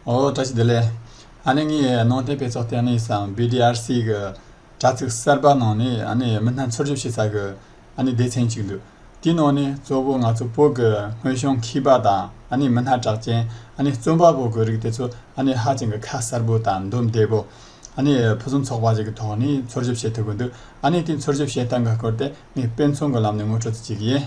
ཨོ་བཀྲ་ཤིས་བདེ་ལེགས། ཨ་ནེ་ངས་ནང་བསྟན་དཔེ་ཚོགས་ལྟས་ནས་སམ BDRC གི་དྲ་ཚིགས་གསར་པ་ནང་ནས་ཨ་ནེ་མི་སྣ་འཚོལ་བཞུབས་བྱེད་ས་གི་ཨ་ནེ་སྡེ་ཚན་གཅིག་འདུག་དེའི་ནང་ནས་གཙོ་བོ་ང་ཚོ་བོད་ཀྱི་དངོས་བྱུང་མཁས་པ་དང་ཨ་ནེ་མི་སྣ་གྲགས་ཅན་ཨ་ནེ་རྩོམ་པ་པོ་གི་རིགས་དེ་ཚོ་ཨ་ནེ་ཧ་ཅང་གི་ཁ་གསར་པོ་དང་འདུམ་བདེ་པོ། ཨ་ནེ་ཕུན་སུམ་ཚོགས་པ་ཞིག་གི་ཐོག་ནས་འཚོལ་བཞུབས་བྱེད་ཐུབ་ཀྱི་འདུག་ཨ་ནེ་དེ་འཚོལ་བཞུབས་བྱེད་སྟངས་ཀྱི་སྐོར་དེ་ངས་དཔེ་མཚོན་གྱི་ལམ་ནས་ངོ་སྤྲོད་རྩིས་བྱེད་ཀྱི་ཡིན།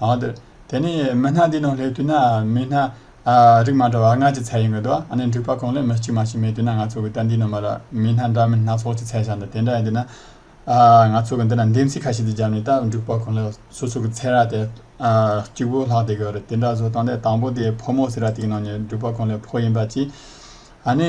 དེ་ནས་མི་སྣ་འདིའི་ནང་སླེབས་དུས་ན་མི་སྣ་རིགས་མ་འདྲ་བ་ལྔ་ཀྱི་ཚད་ཡིན་དགོས་འདུག་ཨ་ནེ་འགྲིག་པ་གང་ལེགས་མི་གཅིག་མ་གཅིག་མེད་དུས་ན་ང་ཚོ་གི་ལྟ་འདིའི་ནང་མ་ར་མི་སྣ་འདྲ་མིན་སྣ་ཚོགས་ཀྱི་ཚད་བཞག་འདུག་དེ་འདྲ་ཡིན་དུས་ན། ང་ཚོ་གི་འདི་ན་འདེམས་གསེས་ཁ་ཤས་དེ་བརྒྱབ་ནས་ད་འགྲིག་པ་གང་ལེགས་སོ་སོ་གི་ཚད་ར་དེ་གཅིག་པོ་ལྷག་བསྡད་དགོས་རེད་དེ་འདྲ་བཟོ་སྟངས་དེ་དང་པོ་དེ་ཕོ་མོ་ཟེར་ར་དེ་གི་ནང་ནས་འགྲིག་པ་གང་ལེགས་ཕོ་ཡིན་པ་གཅིག་ཨ་ནེ།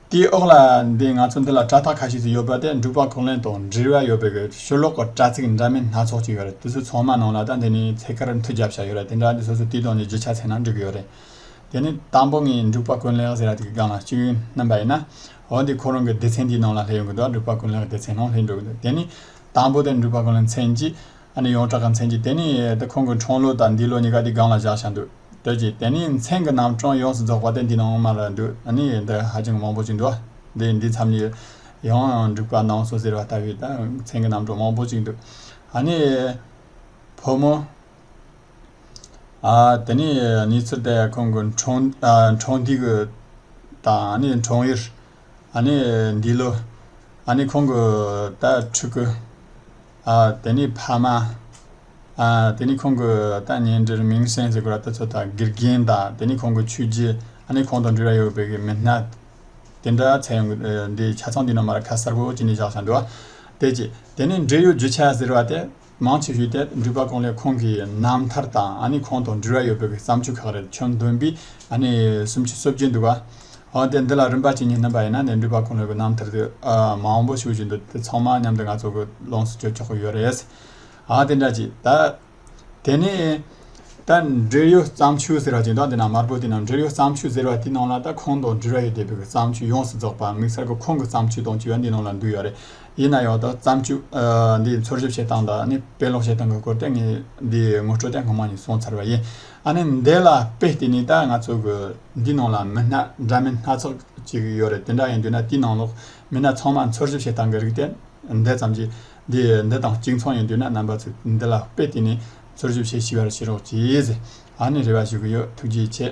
དེའི་འོག་ལ་འདི་ང་ཚོ་འདི་ལ་དྲ་ཐག་ཁ་ཤས་ཤིག་ཡོད་པ་དེ་འབྲུག་པ་གོང་ལེན་དང་འབྲེལ་བ་ཡོད་པའི་ཆུ་ལོག་གི་དྲ་ཚིགས་འདྲ་མིན་སྣ་ཚོགས་ཅིག་ཡོད་རེད་དེ་ཚོའི་ཚང་མ་ནང་ལ་ད་འདི་ནས་ཚེ་དཀར་མཐུད་རྒྱབ་བྱ་ཡོད་རེད་དེ་འདྲ་འདི་སོ་སོའི་དུས་དང་འདི་བརྗེ་ཆགས་ཚེ་ན་འགྲིག་གི་ཡོད་རེད། དེ་ནི་དང་པོ་ངས་འབྲུག་པ་ཀུན་ལེགས་ཟེར་ཡ་དེ་གི་སྒང་ལ་སྤྱི་ཡོན་རྣམ་པ་ཡིན་ན། འོ་འདི་ཁོ་རང་གི་སྡེ་ཚན་དེའི་ནང་ལ་སླེབས་ཡོང་གི་འདུག་འབྲུག་པ་ཀུན་ལེགས་སྡེ་ཚན་ནང་སླེབས་འགྲོ་གི་འདུག་དེ་ནི་དང་པོ་དེ་འབྲུག་པ་ཀུན་ལེགས་མཚན་གྱི་ཨ་ནི་ཡོངས་གྲགས་ཀྱི་མཚན་གྱིས་དེ་ནི་དེ་ཁོང་གི་འཁྲུངས་ལོ་དང་འདས་ལོ་གཉིས་ཀ་དེའི་སྒང་ལ་བཞག་ཤག་འདུག་དོལ་གྱིས་དེ་ནི་མཚན་གྱི་རྣམ་གྲངས་ཡོངས་སུ་རྫོགས་པ་དེ་འདི་ནང་མ་རེད་འདུག་ཨ་ནི་འདི་ཧ་ཅང་མང་པོ་ཅིག་འདུག་དེ་འདི་མཚམས་ནས་ཡང་འགྲིག་པ་གནང་སོང་ཟེར་བ་ལྟ་བུའི་མཚན་གྱི་རྣམ་གྲངས་མང་པོ་ཅིག་འདུག་ཨ་ནི། བུ་མོ། དེ་ནི་ནི་ཚུར་དེ་ཁོང་གི་འཁྲུངས་འཁྲུངས་དུས་དང་ཨ་ནི་འཁྲུངས་ཡུལ། ཨ་ནི་འདི་ལོ། ཨ་ནི་ཁོང་གི་ད་ཕྲུ་གུ། ཨ་དེ་ནི་ཕ་མ། ཨ་དེ་ནི་ཁོང་གི་ད་ཉེ་འབྲེལ་མིང་སྲན་ཟེར་དགོས་ར་ལྟ་ཚོད་དང་དགེ་རྒན་དང་དེ་ནི་ཁོང་གི་ཆོས་རྗེ་ཨ་ནི་ཁོང་དང་འབྲེལ་ར་ཡོད་པའི་གི་མི་སྣ། དེ་འདྲ་ཚད་ཡོང་གི་འདི་ཆ་ཚང་འདི་ནང་མ་ར་ཁ་གསར་པོ་ཅིག་ནས་བཞག་ཞང་འདི་བ། དེ་ཅི་དེ་ནི་འབྲེལ་ཡོད་རྒྱུ་ཆ་ཟེར་བ་དེ། མང་ཆེ་ཤོས་དེ་འགྲུལ་པ་ཁོང་ལས་ཁོང་གི་རྣམ་ཐར་དང་ཨ་ནི་ཁོང་དང་འབྲེལ་བ་ཡོད་པའི་བརྩམས་ཆོས་ཁག་རེད་ཁྱོན་བདུན་པའི་ཨ་ནི་སུམ་ཅུ་སོ་བརྒྱད་འདུག་ག་འོ་དེ་འདི་ལ་རིམ་པ་གཅིག་གཉིས་སྣོན་པ་ཡིན་ན་ནས་འགྲུལ་པ་ཁོང་ལས་གི་རྣམ་ཐར་དེ་མང་པོ་ཞུ་བཞིན་འདུག་དེ་ཚང་མ་མཉམ་དུ་ང་ཚོ་གི་ལོངས་སུ་སྤྱོད་ཆོག་གི་ཡོད་རེད་ཨ་དེ་འདྲ་ཅིག་ད་དེ་ནས་ད་འབྲེལ་ཡོད་བརྩམས་ཆོས་ཟེར་བ་ཅིག་འདུག་འདི་ནང་དམར་པོ་དེ་ནང་འབྲེལ་ཡོད་བརྩམས་ཆོས་ཟེར་བ་དེའི་ནང་ལ་ད་ཁོང་དང་འབྲེལ་བ་ཡོད་བསྡད་པའི་བརྩམས་ཆོས་ཡོངས་སུ་རྫོགས་པ་དམིགས་བསལ་གི་ཁོང་གི་བརྩམས་ཆོས་དང་བཅས་པ་འདིའི་ནང་ལ་འདུས་ཡོད་རེད། ཡིན་ན་ཡང་དག་བརྩམས་ཆོས་འདི་འཚོལ་ཞིབ་བྱེད་སྟངས་དང་དཔེ་ཀློག་བྱེད་སྟངས་ཀྱི་སྐོར་དེ་ངས་འདིའི་ངོ་སྤྲོད་དེ་སྔོན་མ་ནས་གསུངས་ཚར་བ་ཡིན། ཨ་ནི་འདི་ལ་དཔེ་བལྟས་ནས་ད་ང་ཚོ་གི་འདིའི་ནང་ལ་མི་སྣ་འདྲ་མིན་སྣ་ཚོགས་ཅིག་ཡོད་རེད་དེ་འདྲ་ཡིན་དུས་ན་དེའི་ནང་ལོགས་མི་སྣ་ཚང་མ་འཚོལ་ཞིབ་བྱེད་སྟངས་ཀྱི་རིགས་དེ་འདི་ཙམ་གྱིས་འདི་འདི་དང་གཅིག་མཚུངས་ཡིན་དུས་ན་རྣམ་པ་ཚོས་འདི་ལ་དཔེ་བལྟས་ནས་འཚོལ་ཞིབ་བྱེད་ཤེས་པར་བྱེད་རོགས་གྱིས། ཨ་ནི་རེ་བ་ཞུ་གི་ཡོད་ཐུགས་རྗེ་ཆེ།